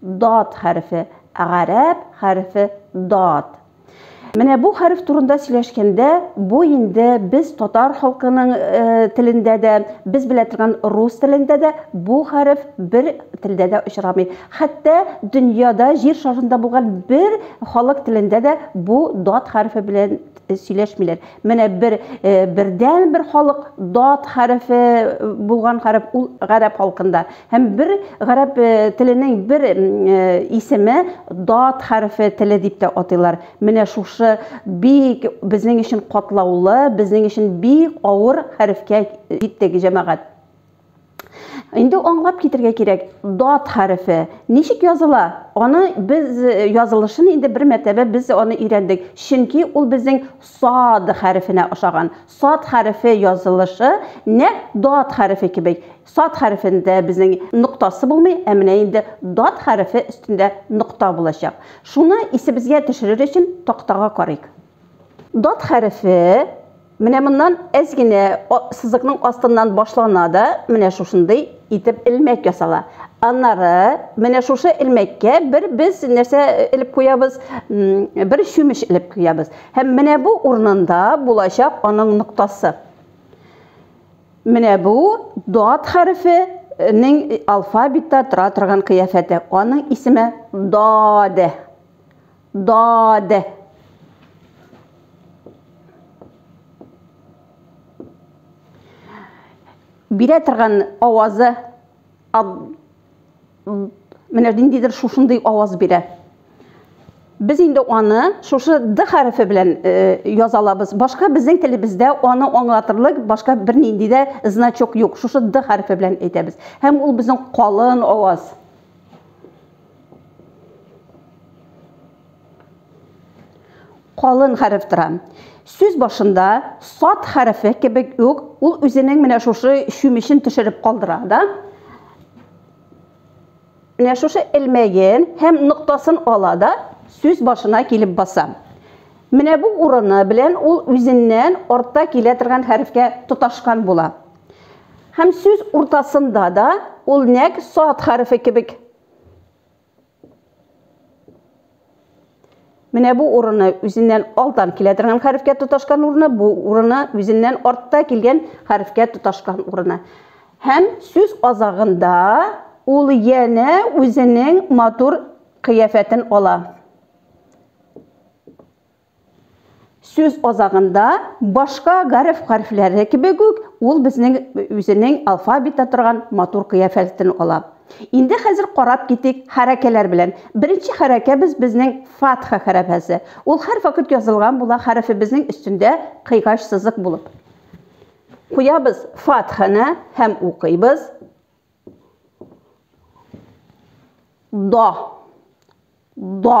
Дад хәрефе, гарәп хәрефе дад. Менә бу хәреф турында сөйләшкәндә, бу инде без татар халкының телендә дә, без белә торган рус телендә дә бу хәреф бер телдә дә очрамый. Хәтта дөньяда, җир шарында булган бер халык телендә дә бу дад хәрефе белән сөйләшмиләр. Менә бер бердән бер халык дат хәрефе булган хәреф ул гарәп халкында. Һәм бер гарәп теленең бер исеме дат хәрефе теле дип тә атыйлар. Менә шушы бик безнең өчен катлаулы, безнең өчен бик авыр хәрефкә җиттек, җәмәгать. Инде аңлап китергә кирәк, дат хәрефе ничек языла? Аны без э, язылышын инде бер мәртәбә без аны өйрәндек. Чөнки ул безнең сад хәрефенә ошаган. Сад хәрефе язылышы нәк дат хәрефе кебек. Сад хәрефендә безнең ноктасы булмый, ә менә инде дат хәрефе өстендә нокта булачак. Шуны исебезгә төшерер өчен тактага карыйк. Дат хәрефе Менә моннан әз генә сызыкның астыннан башлана да, менә шушындый итеп элмәк ясала. Аннары менә шушы элмәккә бер без нәрсә элеп куябыз, бер чүмеч элеп куябыз. Һәм менә бу урынында булачак аның ноктасы. Менә бу дат хәрефенең алфавитта тора торган кыяфәте. Аның исеме даде. ضاد бирә торган авазы менә ниндидер шушындый аваз бирә без инде аны шушы д хәрефе белән э, яза алабыз башка безнең телебездә аны аңлатырлык башка бернинди дә значок юк шушы д хәрефе белән әйтәбез һәм ул безнең калын аваз Калын хәреф тора. Сүз башында сад хәрефе кебек үк ул үзенең менә шушы чүмечен төшереп калдыра да. Менә шушы элмәген һәм ноктасын ала да сүз башына килеп баса. Менә бу урыны белән ул үзеннән артта килә торган хәрефкә тоташкан була. Һәм сүз уртасында да ул нәк сад хәрефе кебек. Менә бу урыны үзеннән алдан килә торган хәрефкә тоташкан урыны, бу урыны үзеннән артта килгән хәрефкә тоташкан урыны. Һәм сүз азагында ул янә үзенең матур кыяфәтен ала. Сүз азагында, башка гарәп хәрефләре кебек үк, ул безнең үзенең алфавитта торган матур кыяфәтен ала. Инде хәзер карап китик хәрәкәләр белән. Беренче хәрәкәбез безнең фатха хәрәфәсе. Ул һәрвакыт язылган була хәрефебезнең өстендә кыйгач сызык булып. Куябыз фатханы һәм укыйбыз. До. До.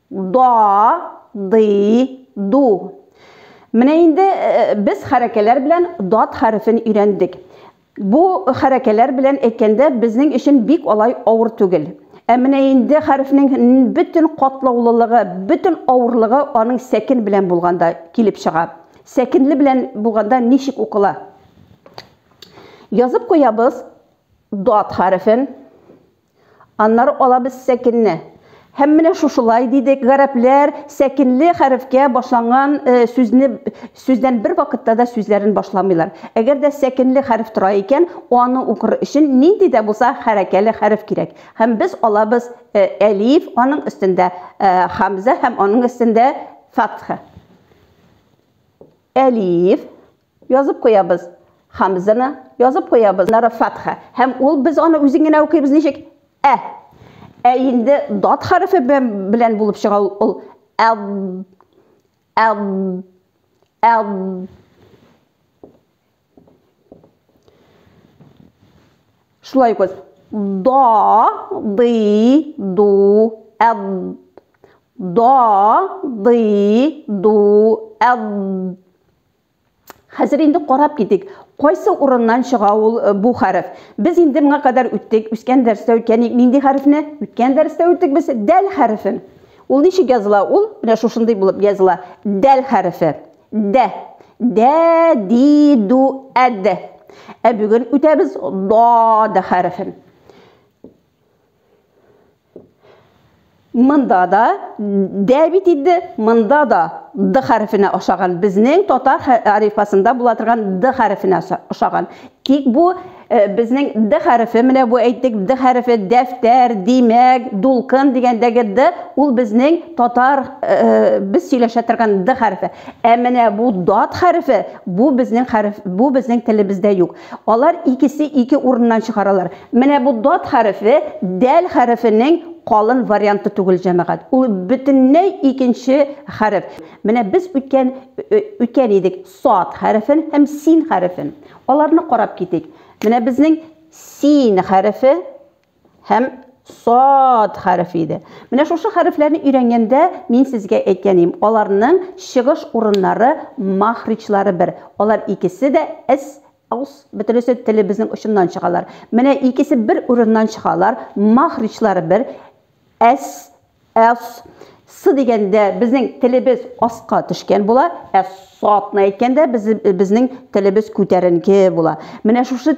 Да, ды, ду. Менә инде без хәрәкәләр белән дат хәрефен өйрәндек. Бу хәрәкәләр белән әйткәндә безнең өчен бик алай авыр түгел. Ә менә инде хәрефнең бөтен катлаулылыгы, бөтен авырлыгы аның сәкен белән булганда килеп чыга. Сәкенле белән булганда ничек укыла? Язып куябыз дат хәрефен. Аннары алабыз сәкенне. Һәм менә шушылай дидек, гарәпләр сәкенле хәрефкә башланган э, сүзне сүздән бер вакытта да сүзләрен башламыйлар. Әгәр дә сәкенле хәреф тора икән, аны укыр өчен нинди дә булса хәрәкәле хәреф кирәк. Һәм без алабыз э, әлиф, аның өстендә э, хамза һәм аның өстендә фатха. Әлиф, Язып куябыз. Хамзаны язып куябыз. Нары фәтха. Һәм ул без аны үзен генә укыйбыз ничек? Ә. Ә инде дат хәрефе белән булып чыга ул. Әд. Әд. Әд. Шулай укыйбыз. Да, ды, ду, әд. Да, ды, ду, әд. Хәзер инде карап китик, кайсы урыннан чыга ул бу хәреф. Без инде моңа кадәр үттек, үскән дәрестә үткәник нинди хәрефне? Үткән дәрестә үттек без дәл хәрефен. Ул ничек языла? Ул менә шушындый булып языла. Дәл хәрефе. Дә. Дә, ди, ду, әд. Ә бүген үтәбез да да хәрефен. Монда да дә бит инде, монда да д хәрефенә ошаган. Безнең татар алифбасында була торган д хәрефенә ошаган. Тик бу э, безнең д хәрефе, менә бу әйттек, д хәрефе дәфтәр, димәк, дулкын дигәндәге д, ул безнең татар э, без сөйләшә торган д хәрефе. Ә менә бу дат хәрефе, бу безнең хәреф, бу безнең телебездә юк. Алар икесе ике урыннан чыгаралар. Менә бу дад хәрефе дәл хәрефенең калын варианты түгел, җәмәгать. Ул бөтенләй икенче хәреф. Менә без үткән үткән идек сад хәрефен һәм син хәрефен. Аларны карап китик. Менә безнең син хәрефе. һәм сад хәрефе иде. Менә шушы хәрефләрне өйрәнгәндә мин сезгә әйткән идем, аларның чыгыш урыннары махричлары бер. Алар икесе дә с, ос, бөтенесе телебезнең очыннан чыгалар. Менә икесе бер урыннан чыгалар, махричлары бер, с, Әс. Сы дигәндә безнең телебез аска төшкән була, ә сатны әйткәндә безнең телебез күтәренке була. Менә шушы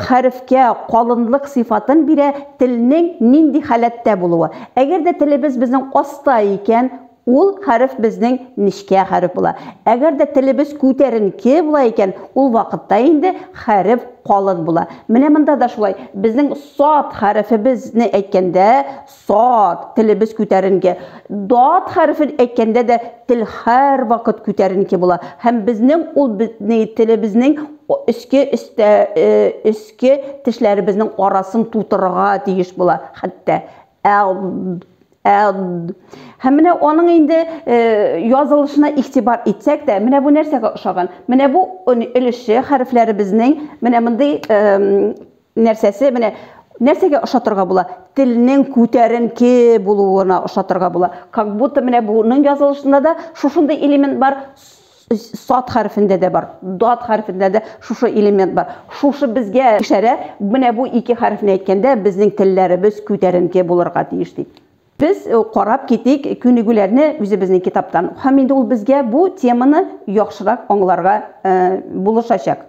хәрефкә калынлык сыйфатын бирә телнең нинди халәттә булуы. Әгәр дә телебез безнең аста икән, ул хәреф безнең нечкә хәреф була. Әгәр дә телебез күтәренке була икән, ул вакытта инде хәреф калын була. Менә монда да шулай. Безнең сат хәрефебезне әйткәндә, Сад, телебез күтәренке. Дат хәрефен әйткәндә дә тел һәрвакыт күтәренке була. Һәм безнең ул безнең телебезнең өске өстә өске тешләребезнең арасын тутырырга тиеш була. Хәтта Һәм менә аның инде э, язылышына игътибар итсәк тә, менә бу нәрсәгә ошаган? Менә бу өлеше хәрефләребезнең менә мондый нәрсәсе менә нәрсәгә ошатырга була? Телнең күтәренке булуына ошатырга була. Как будто менә буның язылышында да шушындый элемент бар, сад хәрефендә дә бар, дат хәрефендә дә шушы элемент бар. Шушы безгә ишарә, менә бу ике хәрефне әйткәндә безнең телләребез күтәренке булырга тиеш дип. Без карап китик күнегүләрне үзебезнең китаптан. Һәм инде ул безгә бу теманы яхшырак аңларга булышачак.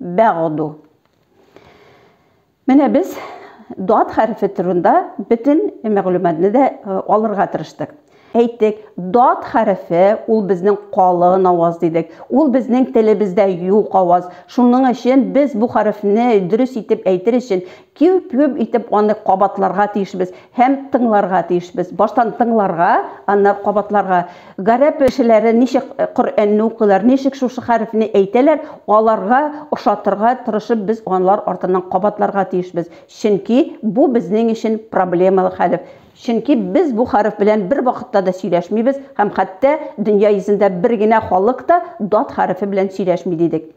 бәгъду. Менә без дат хәрефе турында бөтен мәгълүматны да алырга тырыштык. Әйттек, дат хәрефе ул безнең калын аваз дидек. Ул безнең телебездә юк аваз. Шуның өчен без бу хәрефне дөрес итеп әйтер өчен Киүп-киүп итеп аны кабатларга тиешбез һәм тыңларга тиешбез. Баштан тыңларга, аннары кабатларга. Гарәп кешеләре ничек Коръәнне укыйлар, ничек шушы хәрефне әйтәләр, аларга ошатырга тырышып без алар артыннан кабатларга тиешбез. Чөнки бу безнең өчен проблемалы хәреф. Чөнки без бу хәреф белән бервакытта да сөйләшмибез һәм хәтта дөнья йөзендә бер генә халык та дад хәрефе белән сөйләшми дидек.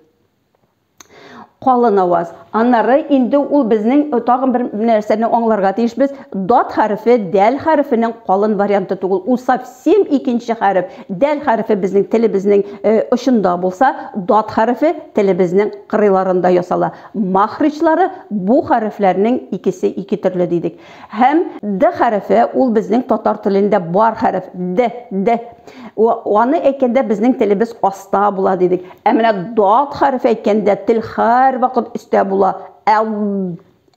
Калын аваз. Аннары инде ул безнең э, тагын бер нәрсәне аңларга тиешбез. Дат хәрефе дәл хәрефенең калын варианты түгел. Ул совсем икенче хәреф. Дәл хәрефе безнең телебезнең э, очында булса, дат хәрефе телебезнең кырыйларында ясала. Махричлары бу хәрефләрнең икесе ике төрле дидек. Һәм Д хәрефе ул безнең татар телендә бар хәреф. Д, Д. Аны әйткәндә безнең телебез аста була дидек. Ә менә Дат хәрефе әйткәндә тел һәрвакыт өстә була. Әд,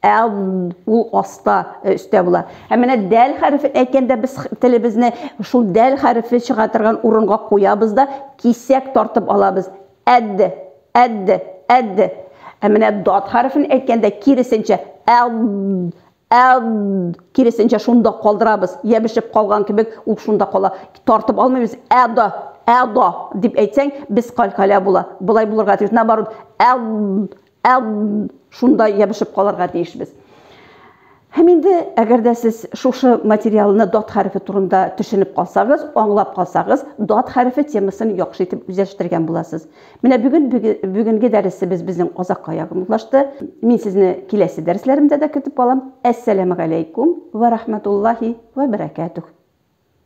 әд, ул аста, өстә була. Һәм менә Дәл хәрефен әйткәндә без телебезне шул Дәл хәрефе чыга торган урынга куябыз да кисәк тартып алабыз. Әд, әд, әд. Ә менә дат хәрефен әйткәндә киресенчә, әд, әд, киресенчә шунда калдырабыз. Ябешеп калган кебек ул шунда кала. Тартып алмыйбыз. Әда, әда дип әйтсәң, без калькалә була. Болай булырга тиеш. Наоборот, әд, Әб, шунда ябышып калырга тиешбез. Һәм инде, әгәр дә сез шушы материалны дат хәрефе турында төшенеп калсагыз, аңлап калсагыз, дат хәрефе темасын яхшы итеп үзләштергән буласыз. Менә бүген бүгенге дәресебез безнең азакка якынлашты. Мин сезне киләсе дәресләремдә дә көтеп калам. Әссәламу алейкум ва рахматуллахи ва баракатух.